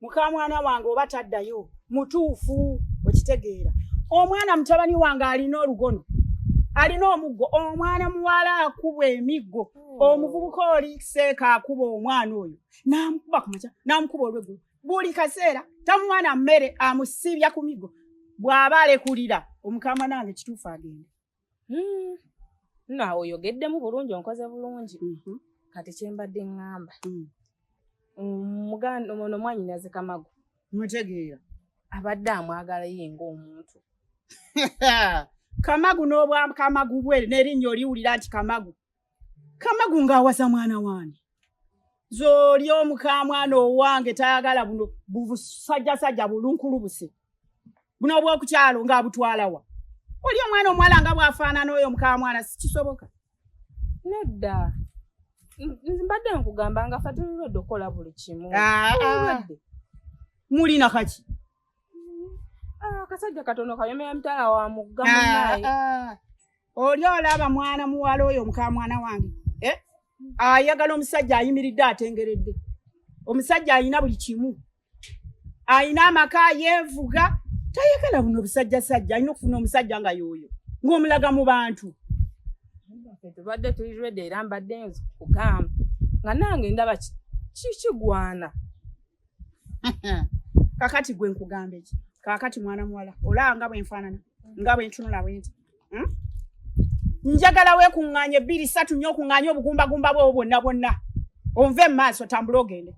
mukamwana wange oba taddayo mutuufu okitegeera omwana mutabani wange alina olugono alina omuggo omwana muwala akubwa emiggo hmm. omuvubuka oli seeka akuba omwana oyo namukuba kumaca namukuba olweggulu buli kaseera tamwana mmere amusibya ku miggo bw'aba alekulira omukama nange kituufu agenda Hmm. no awo oyogeddemu bulungi onkoze bulungi mhm. kati kyembadde ŋŋamba hmm. muganda ono mwanyinaze kamagu mutegeera abadde amwagala ye ng'omuntu kamagu n'obwakamagu bwe n'erinnya oliwulira nti kamagu kamagu ng'awaza mwana wange zoli omukamwana owange tayagala buno busajjasajja bulunkulubuse buno obwokukyalo ng'abutwalawa oli omwana omuwala nga bwafaanana oyo mukamwana sikisoboka nedda mbadde nkugamba nga fa tululwedde okukola buli kimu ah, ah. mulina kaki ah, akasajja katono kayomera mitala wa mugga munaye oli olaba mwana muwala oyo muka mwana wange eh? ayagala omusajja ayimiridde atengeredde omusajja alina buli kimu alina amaka yevuga tayagala buno obusajja sajja alina okufuna omusajja nga yoyo ngaomulaga mu bantu tubadde tuli redi era mbadde nzi kugamba nga nange ndaba kikigwana kakati gwe nkugambe ki kakati mwana muwala olaba nga bwenfaanana nga bwentunula bwenti hmm? njagala wekuŋŋaanye bbiri satu nnyo okuŋŋaanye obugumbagumba bwewo bwonna bwonna onve mu maaso tambula ogende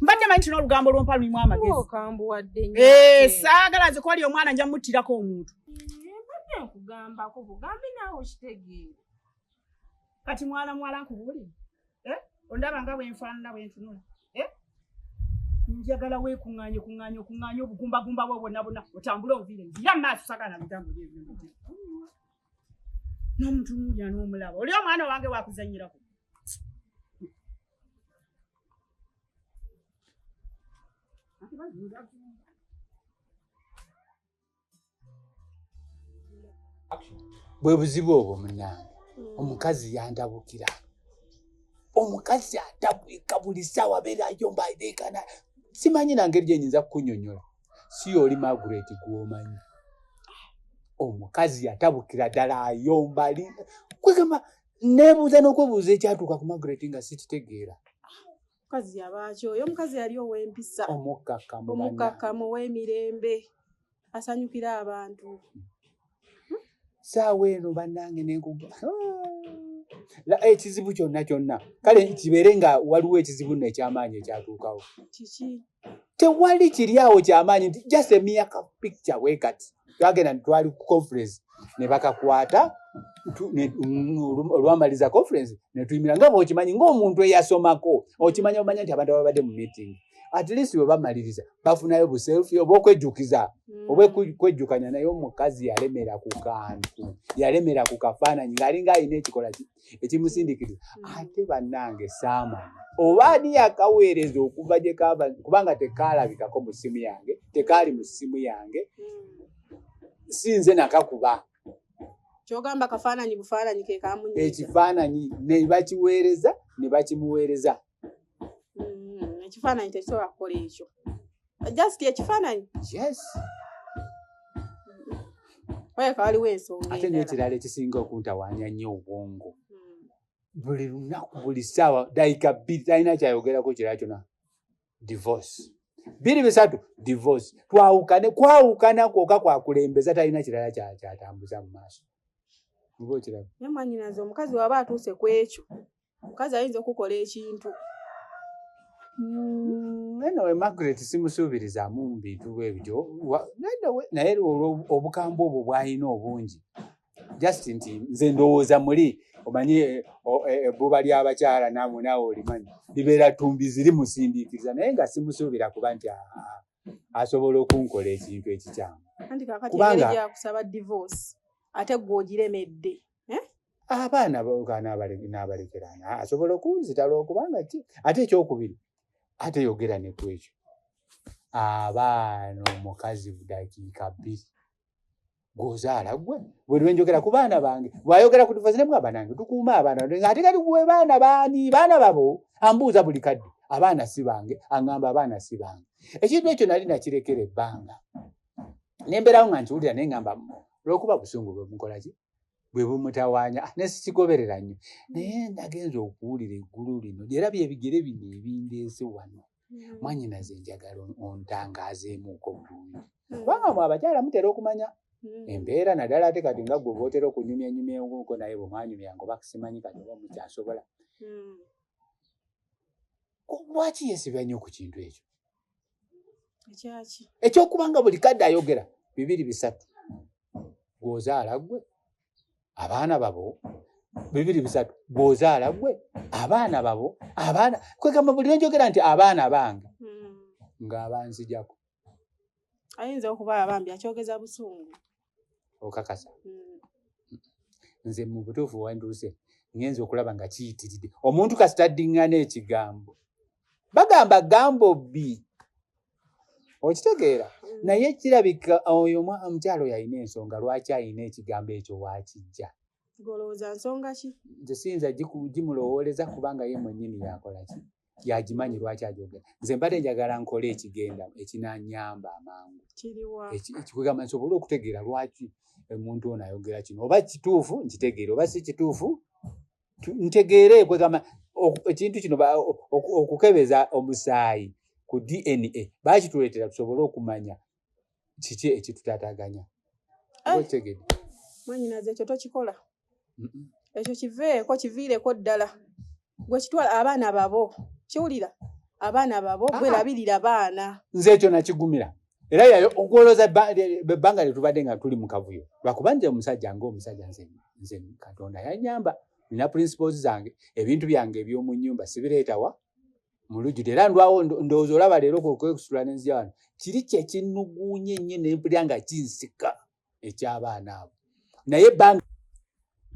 mbadde manyi tina olugambo lwompa lulimu amagezikambuwadde eh, saagala nze kwali omwana nja muttirako omuntu eh, kati mwana muwala nkubuulire eh? ondaba nga bwenfaanana bwentunula eh? njagala wekuŋŋaanye kuŋŋaanye okuŋŋaanye obugumbagumba bwo bwonna bwonna otambule ovire nzira maaso sagala bigambo byebyonomuntu n'omuntu mulya n'omulaba oli omwana wange wakuzanyirako Thank you. bwe buzibu obwo munange mm. omukazi yandabukira omukazi atabwika buli saawa abeera ayomba adeekana simanyi nangeri gyenyinza kukunyonyola si yooli magret gwomanyi omukazi yatabukira ddala ayomba li kwegamba nebuuza n'okwebuuza ekyatuuka ku magret nga sikitegeera mukazi yabaaki oyo omukazi yali ow'empisa omukkakkamu ow'emirembe asanyukira abantu hmm? saawa eno bannange nenkuga ah! ekizibu kyonna kyonna kale kibeere nga waliwo ekizibu no ekyamaanyi ekyatuukawo tewali kiri awo kyamaanyi nti just emia ka picture bwe kati twagenda netwali ku conference ne bakakwata olwamaliza conference netuyimira nga bwokimanyi ngaomuntu eyasomako okimanyi omanya nti abantu ababadde mu meeting at least bwe bamaliriza bafunayo buselfi oba okwejjukiza hmm. oba kwejjukanya naye omukazi yalemera ku kantu yalemera ku kafaananyi ng'alinga alina ekikola ekimusindikiriza mm. ate bannange saamanya oba ani yakaweereza okuva gye kava kubanga tekaalabikako mu ssimu yange tekaali mu ssimu yange mm. si nze nakakuba kyogamba kafaananyi bufaananyi kekamunye ekifaananyi ne bakiweereza ne bakimuweereza mm, ekifaananyi tekisobola kukola ekyo just ekifaananyi yes olabika waliwo ensonga ate nekirala ekisinga okuntawaanya nnyo obwongo hmm. buli lunaku buli ssaawa dayika bbiri talina kyayogerako kirala kyona divorce biri bisatu divorce twawukane kwawukana kwoka kwakulembeza talina kirala kyatambuza mu maaso oba okiraba naye mwanyinaze omukazi waba atuuse ku ekyo omukazi ayinza okukola ekintu mm, anyway margaret simusuubirizamu mubintu bwebityo naye olwobukambwe obwo bwalina obungi just nti nze ndowooza muli omanyi ebbuba eh, eh, eh, ly'abakyala namwe naawe olimanyi libeera ttumbi ziri musindiikiriza naye nga simusuubira kuba nti ah, ah, asobola okunkola ekintu ekikyamu kubanga ate gwogiremedde eh? abaana nabalekerana asobola okunzita lwokubanga ki ate ekyokubiri ate yogera nekwekyo abaana omukazi budakiika bbiri gwozaala gwe bwelwenjogera ku baana bange bwayogera ku tufazi nemu abanange tukuuma abaana ate kati gwe baana bani baana babo ambuuza buli kadde abaana si bange aŋamba abaana si bange ekintu ekyo nali nakirekera ebbanga nembeerawo nga nkiwulira naye ŋamba lwokuba busungu bwemukolaki bwe bumutawaanya ah, naye sikigoberera nnyo naye nagenza okuwulira eggulu lino era byebigere bino ebindeese wano hmm. mwanyinaze enjagala ontangaazeemuuko bulungi hmm. kubanga mwe abakyala mutera okumanya hmm. embeera naddala ate kati nga gwe bootera okunyumya nyumya enkuko naye bwe mwanyumya ngo bakusimanyi kati oba mukyasobola lwaki yeesibira nnyo ku kintu ekyo ekyokubanga buli kadde ayogera bibiri bisatu gwozaala gwe abaana babo bibiri bisatu gwozaala gwe abaana babo abaana kwegamba buli nenjogera nti abaana bange hmm. ngaabanzijako ayinza okuba abambi akyogeza busungu okakasa hmm. nze mu butuufu wanduuse ngenza okulaba nga kiyitiridde omuntu kasita ddiŋŋana ekigambo bagamba gambo bbi okitegeera mm. naye kirabika oyo omukyalo yalina ensonga lwaki alina ekigambo ekyo wakijja golowooza nsonga ki nze siyinza gimulowooleza kubanga ye mwenyini yakolaki yagimanyi lwaki ajogera nze mbadde njagala nkole ekigenda ekinanyamba amangu ekigamba nsobole okutegeera lwaki omuntu ono ayogera kino oba kituufu nkitegeere oba si kituufu ntegeere kwegamba ekintu kino okukebeza omusaayi ku dna bakituleetera tusobole okumanya kiki ekitutataganya eh. mwanyinaze ekyo tokikola ekyo kiveeko kiviireko ddala gwe kitwala abaana babo kiwulira abaana babo gwe labirira baana nze ekyo nakigumira era yayo okuwolooza ebbanga lyetubadde nga tuli mu kavuyo lwakuba nze omusajja nga omusajja nze katonda yanyamba nina principles zange ebintu byange ebyomu nyumba sibireetawa mu lujjude era ndwawo ndowooza olaba leero kwekusula nenzija wano kiri kyekinuguunye nnyo nempulira nga kinsika ekyabaana abo naye ebbanga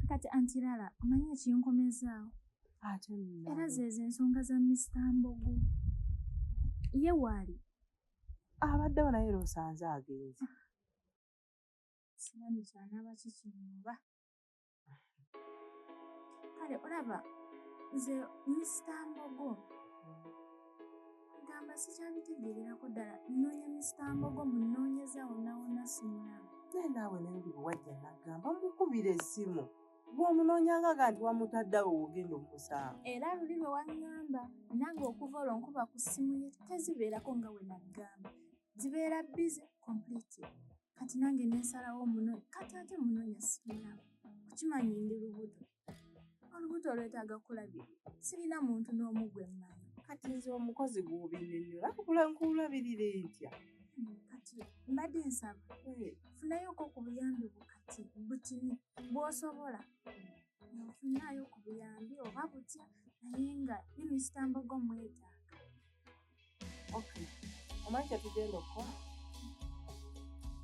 kati antirala omanyi ekinkomezaawo era zeezo ensonga za misita mbogo ye waali abaddewo naye lwosanze agenzi simanyi kyanaaba kikinoba kale olaba nze misita mbogo gamba sikyabitegeererako ddala nnoonya misita mbogo munoonyeza wonawona simulaba naye naawe nayulibu wajja nagamba mukubira essimu gwomunoonyangaga nti wamutaddawo wogenda omusango era luli lwe waŋŋamba nange okuva olwo nkuba ku ssimu ye tezibeerako nga we naggamba zibeera bize complete kati nange nensalawo muno kati ate munonya sirina kukimanyi ndi lubuto olubuto olwetaaga kulabiri sirina muntu n'omu gwe mmanyi kati nze omukozi gwobinenyola kula nkulabirire ntya kati mbadde nsaba eh. funayoko ku buyambi bwo kati butini bwosobola nfunayo ku buyambi oba butya naye nga ne misitambo gomwetaaga omanyi kyetugenda okukola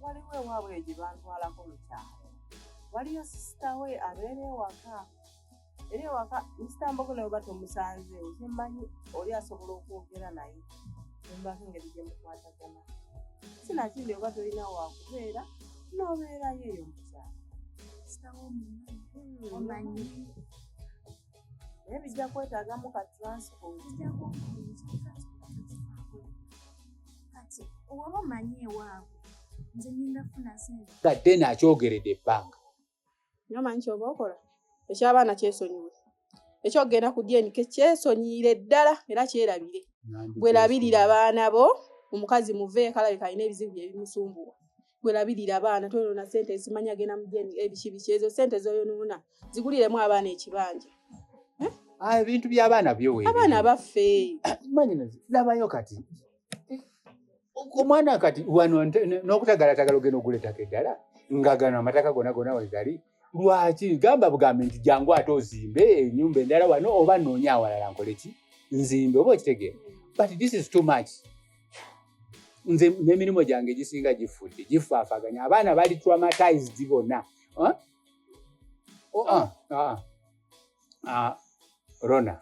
waliwo ewaabwe gye bantwalako mu kyalo waliyo sisita we abeera ewaka era ewaka nsitambogo naye oba tomusanze ozimanyi oli asobola okwogera naye embako engeri gye mukwatagana sinakindi oba tolina wakubeera n'obeerayo eyo mukyalo sitawo omanyi naye bijja kwetaagamu ka transport kati oba omanyi ewaabwe nze ngenda funa sente gadde nakyogeredde ebbanga nyo manyi kyoba okola ekyabaana kyesonyiwe ekyokugenda ku dnk kyesonyiire ddala era kyerabire bwerabirira baana bo omukazi muveekalabika alina ebizibu byebimusumbuwa gwelabirira abaana toyonona sente ezimanyi agenda mujeni ebiki biki ezo sente zoyonona ziguliremu abaana ekibanja eh? ah, ebintu byabaana byoabaana baffe labayo kati omwana kati wano nokutagalatagala ogenda oguletako eddala nga gano amataka gona gona wegali lwaki gamba bugambi nti jangu ate ozimbe enyumba endala wano oba noonya awalala nkoleki nzimbe oba okitegeera but this is too much nze n'emirimu gyange gisinga gifudde gifaafaganya abaana bali traumatized bona oh, ah, ah, ah, rona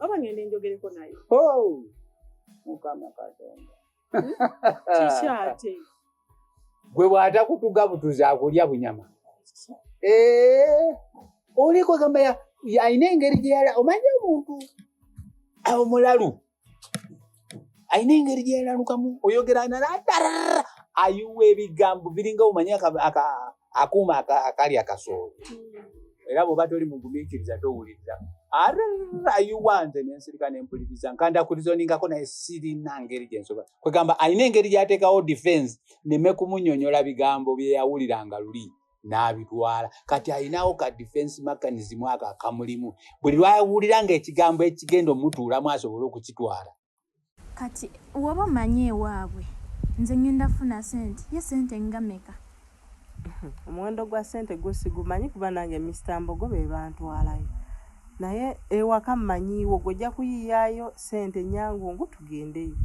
oba ngende njogereko naye oh! mukama katonda hmm? kikyate gwe bwata kutuga butuzi akulya bunyama eh, oliko gamba alina engeri gyeyala omanya omuntu omulalu alina engeri gyeyalalukamu oyogera naladara ayuwa ebigambo biringa omanyi akuuma akali akasoolo hmm. era bwoba toli mugumikiriza towuliriza ayuwa nze nensirika nempuliriza nkandakulizoningako naye sirina ngeri gyensoba kwegamba alina engeri gyatekawo defense neme kumunyonyola bigambo byeyawuliranga luli n'abitwala kati alinawo ka defense mechanism ako akamulimu buli lwawulira nga ekigambo ekigenda omutuulamu asobole okukitwala kati woba omanyi ewaabwe nze ngenda funa sente ye sente ngameka omuwendo gwa sente gwo sigumanyi kuba nange mr mbogo be bantwalayo Naye ewaka mmanyiiwo gwe ojja kuyiiyaayo ssente nnyangungu tugendeyo.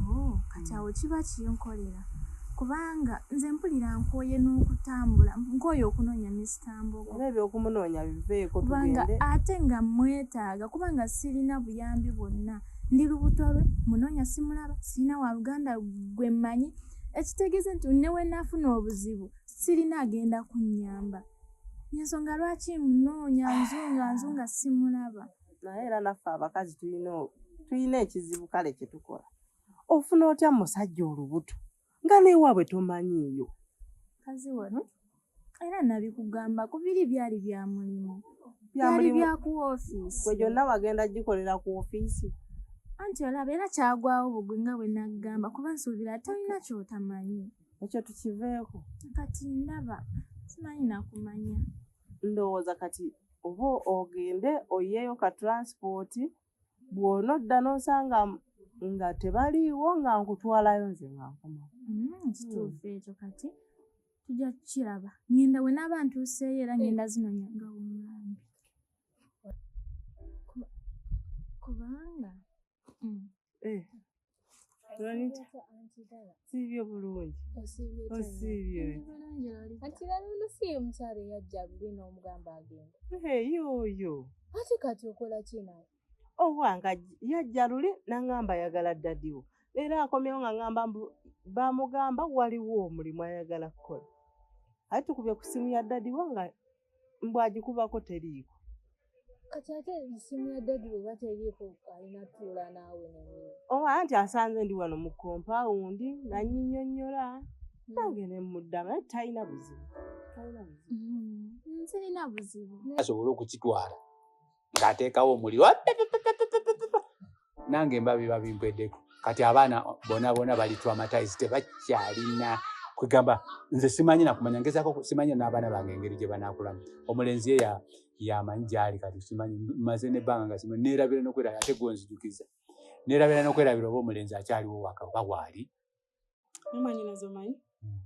Oh, kati awo kiba kinkolera kubanga nze mpulira nkooye n'okutambula nkooye okunoonya Mister Mbogo. Era eby'okumunoonya biveeko tugende. Kubanga ate nga mmwetaaga kubanga sirina buyambi bwonna. Ndi lubuto lwe, mmunoonya simulaba, sirina wa luganda gwe mmanyi ekitegeeza nti ne we naafuna obuzibu sirina agenda kunnyamba. ensonga lwaki munoonya nzunga nzunga simulaba naye era naffe abakazi tulina tulina ekizibu kale kyetukola ofuna otya musajja olubuto nga newaabwe tomanyiiyo kazi wano era nabikugamba ku biri byali bya mulimu byali bya ku ofiisi gwe gyonna wagenda gikolera ku ofiisi anti olaba era kyagwawo bugwi nga bwe naggamba kuba nsuubira tolina kyotamanyi ekyo tukiveeko kati ndaba simanyi nakumanya ndowooza kati oba ogende oyeeyo ka transport bwona odda nosanga nga tebaliiwo nga nkutwalayo nze nga nkoma mm, kituufu hmm. ekyo kati tujja kukiraba ngenda we naaba ntuuseeyo era ngenda zinonya nga womwami kubanga Hmm. Eh. siibye bulungi osiibye anti lala ono si ye mukyalo eyajja buli n'omugamba agenda yooyo ate kati okola kinawe owange yajja luli nangamba ayagala ddadiwo era akomyewo nga ngamba mbu bamugamba waliwo omulimu ayagala kukola aye tukubye ku ssimu ya ddadiwo nga mbu agikubako teriiko kati ate esimu ya dadi bweba teriiko alina tuula naawe nenyo oba anti asanze ndi wano mu kompawundi nanyinyonyola hmm. nange nemuddama naye talina buzibu talina buzibu hmm. nzirina buzibu asobole okukitwala ng'ateekawo omuliro nange mba biba bimpweddeko kati abaana bona bona bali traumatise tebakyalina kwegamba nze simanyi nakumanya ngezako simanyi n'abaana bange engeri gye banaakulamu omulenzi ye yamanyi gyali kati simanyi maze nebbanga nga simanyi neerabira nokwerabira ate gwenzijukiza neerabira nokwerabira oba omulenzi akyaliwo waka oba waali mumanyina zomanyi hmm.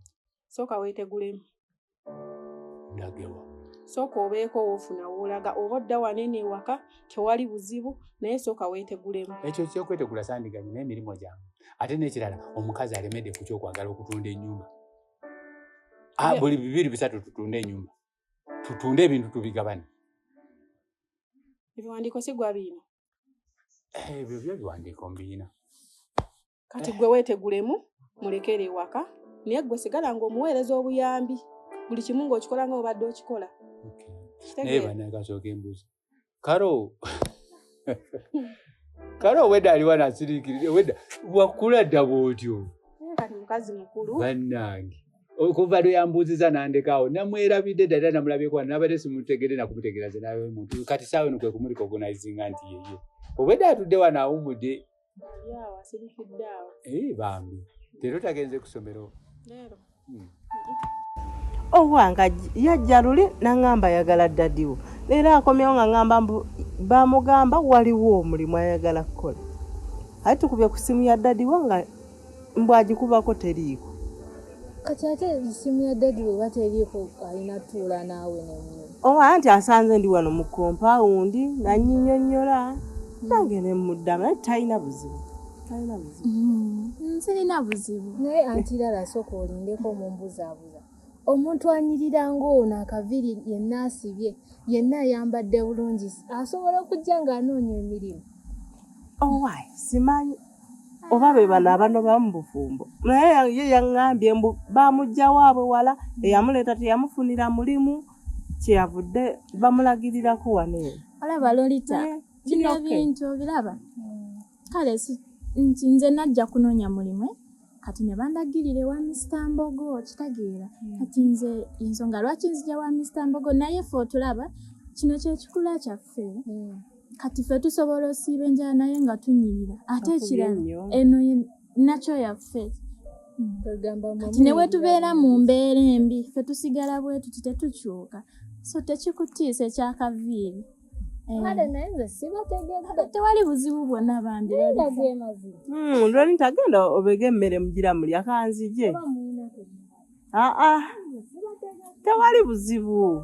sooka weetegulemu ndagewa sooka obeeko woofuna woolaga oba odda wanene ewaka tewali buzibu naye sooka weetegulemu ekyo kyokwetegula sandiganyi naye emirimu gyange ate n'ekirala omukazi alemedde ku kyokwagala okutunda ennyumba ah, buli bibiri bisatu tutunde ennyumba tutunde ebintu tubigabane ebiwandiiko sigwa biina eh, ebyo byo ebiwandiiko mbiina kati gwe wetegulemu mulekere ewaka naye gwe sigala nga omuweereza obuyambi buli kimu ngaokikola nga obadde okikola naye banakasooka embuzi karo kale obwedda aliwa nasirikirira obwedda wakula ddaba otyo mukazi mukulu bannange okuva lwe yambuuziza nandekaawo namwerabidde ddala era namulabyeko wano nabadde simutegere nakumutegeera ze nawe muntu kati saawe nokwe kumurikogonizinga nti yeye obwedda atudde wano awumudde Ee, bambi leero tagenze ku ssomero leero hmm. owange oh, yajja luli naŋamba ayagala ddadiwo leero akomyewo nga ŋamba mbu bamugamba waliwo omulimu ayagala kukola aye tukubye ku ssimu ya ddadiwo nga mbu agikubako teriiko kati ate esimu ya dadi weba teriiko alina tuula naawe nemu oba oh, nti asanze ndi wano mu kompawundi nanyinyonyola nange nemuddama naye talina buzibu talina buzibu mm, sirina buzibu naye antirara sooka olindeko mumbuzabuza omuntu anyirira ng'ono akaviri yenna asibye yenna ayambadde bulungi asobola okujja ng'anoonya emirimu owaye oh, simanyi oba be bano abanoba mu bufumbo naye ya- ye yaŋŋambye mbu bamujja waabwe wala eyamuleeta teyamufunira mulimu kyeyavudde bamulagirirako wano eno olaba lolita Eh, bino okay. bintu obiraba kale si- nti nze najja kunoonya mulimu eh? kati ne bandagirira ewa misita mbogo kitegeera kati nze ensonga lwaki nzija wa misita mbogo naye fe otulaba kino kyekikula kyaffe kati ffe tusobola osiiba enjala naye nga tunyirira ate ekirala eno nakyo yaffe kati ne wetubeera mu mbeera embi ffe tusigala bwe tuti tetukyuka so tekikutiisa ekyakaviiri eh. tewali buzibu bwonna bambi lwani hmm, tagenda obega emmere mugira mulya kanzije aa ah, ah. tewali buzibu